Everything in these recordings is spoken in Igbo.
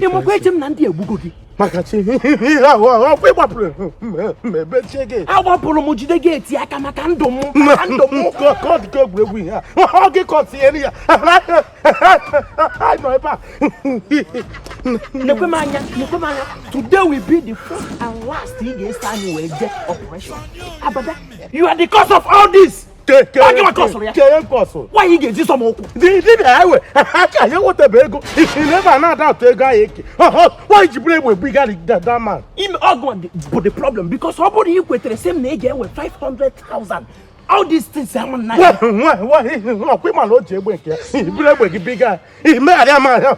ị makwa eche m na ndị egbugo gị maka chi ọ kwa ị gbapụrụ ebe chie gị agbapụrụ m jide gị eti aka maka ndụ m maka ndụ m ka ọ dị ka egwuregwu ihe a ọ gị ka ọ tinyere ya nọ ebe a nekwe m anya nekwe m anya today will be the first and last ị ga-eso anyị wee jee operation abada you are the cause of all this nwaanyị ga-eji sọ m ụkwụ dibịa ewe aka anyị nwetaba ego isiri ebe a na-ada atụ ego anyị eke nwaanyị ji buru egbe egbu igari dadaman ime ọgwụ bụ the problem because ọ bụrụ na ị kwetere sị m na ị ga-enwe 500,000 all these things ama nna ya ọ kwa ị ma na o ji egbe nke ya buru egbe gị biga imegharị ama ya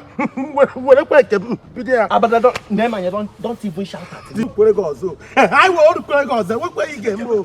werekwa nke bido ya abadado na-emanye don't even shout at me kwere gị ọzọ anyị wee orukwere gị ọzọ enwekweghị ga-eme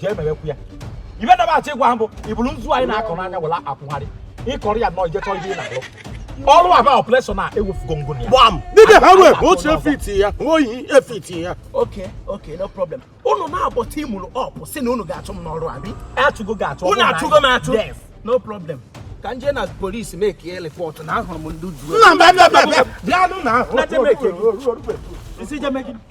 jee mewekwu ya ibe na-achọ ịgwa ha bụ iburu nzu anyị na-akọ n'anya were akwụgharị ịkọrọ ya nọ ijechọ ihe ị na-alụ ọrụ aba operation a ewufugo ngụ ya gbam dịbịa ha wee otu efiti ya oyi efiti ya oke oke no problem unu naabọ teamụlụ up sị na unu ga-achụ m n'ọrụ abi achụgo ga-achụ unu achụgo m achụ no problem ka m jee na police mekie report na ahụrụ m ndị ọjọọ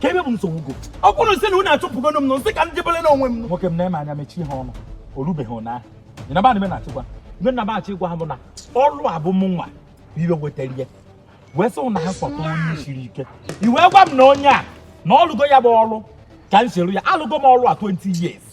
kee ibe bụ nsogbu gọ ọ bụrụ sị na unu achụpụgonu m nụ m sị ka m jebele n'onwe m nwoke m nee m anya mechie ha ọnụ o rubeghị ụnyaahụ ị naba nime na-achịkwa ibe na m achọ ịgwa ha bụ na ọrụ a bụ mụnwa bụ ibe wetara ya wee sị na ha kpọta onye siri ike i wee gwa m na onye a na ọ lụgo ya bụ ọrụ ka m soro ya alụgo m ọrụ a 20 years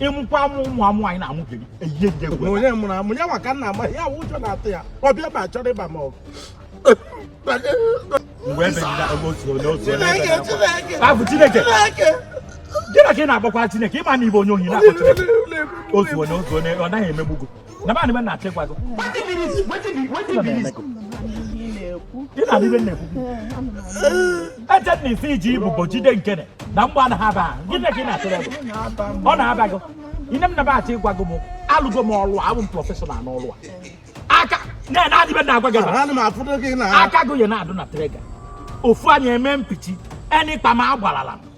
ịmụkwa amụ ụmụ amụ anyị na-amụbeghị eyihe nje egwu onye mụrụ amụ ya maka na ama ya wụ ụjọ na-atụ ya ọ bịa ma chọrọ ịba m ọgụ mgbe egbe na-agba otu onye otu onye egbe na-agba. Chineke Abụ Chineke Chineke gịnị ka ị na-akpọkwa Chineke ị ma na ị bụ onye ohi na-akpọ Chineke otu onye otu onye ọ naghị emegbu gị na ba na na-achọ ịgwa gị nedị ibe na-ekwu eche na isi iji ibubo jide nkene na mgbọ anaghị aba ha gịnị ka ị na-atụrụ ebe ọ na-aba gị ine m naba achọ ịgwa gị m alụgo m ọlụ abụ m professional n'ọlụ a aka nedị ibe na-agwa gị aka gị ya na-adụ na trigger ofu anya eme mpichi enyi kpam agbarala m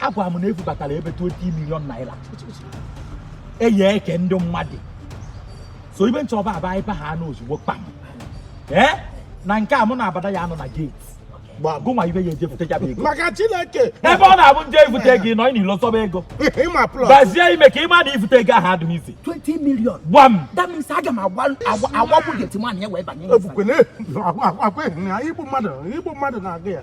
a gwa m na e bubatara ebe 20 million naira eyi eke ndị mmadụ so ibe nchọba aba ibe ha anụ ozugbo kpam ee eh? na nke a mụ na abada ya-anọ na gate gụnwa ibe ya-eje fute ya bụ ego maka chineke ebe ọ na-abụ m jee ifute gị nọ n'ilo zọba ego gbazie ime ka ị ma na ifute ego ahụ adịghị mfe 20 million gbam that means aga m agbagbu gateman ya wee banye igbu mmadụ na-aga ya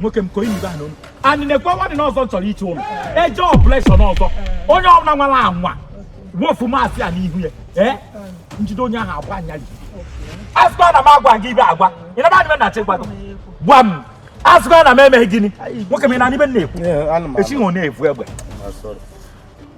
nwoke m konye ibe anụ anyị na-ekwe nwadị n'ọzọ chọrọ iche ụlọ eje operation ọzọ onye ọbụla nwara anwa wofu mask a n'ihu ya ee eh? m jide onye ahụ agwa anya ji asịkwa na m agwa gị ibe agwa ị naba adịbe na chekwa gị gwa m asịkwa na m emeghị gịnị nwoke m ị na-anụ ife m na-ekwu echi na-efu egbe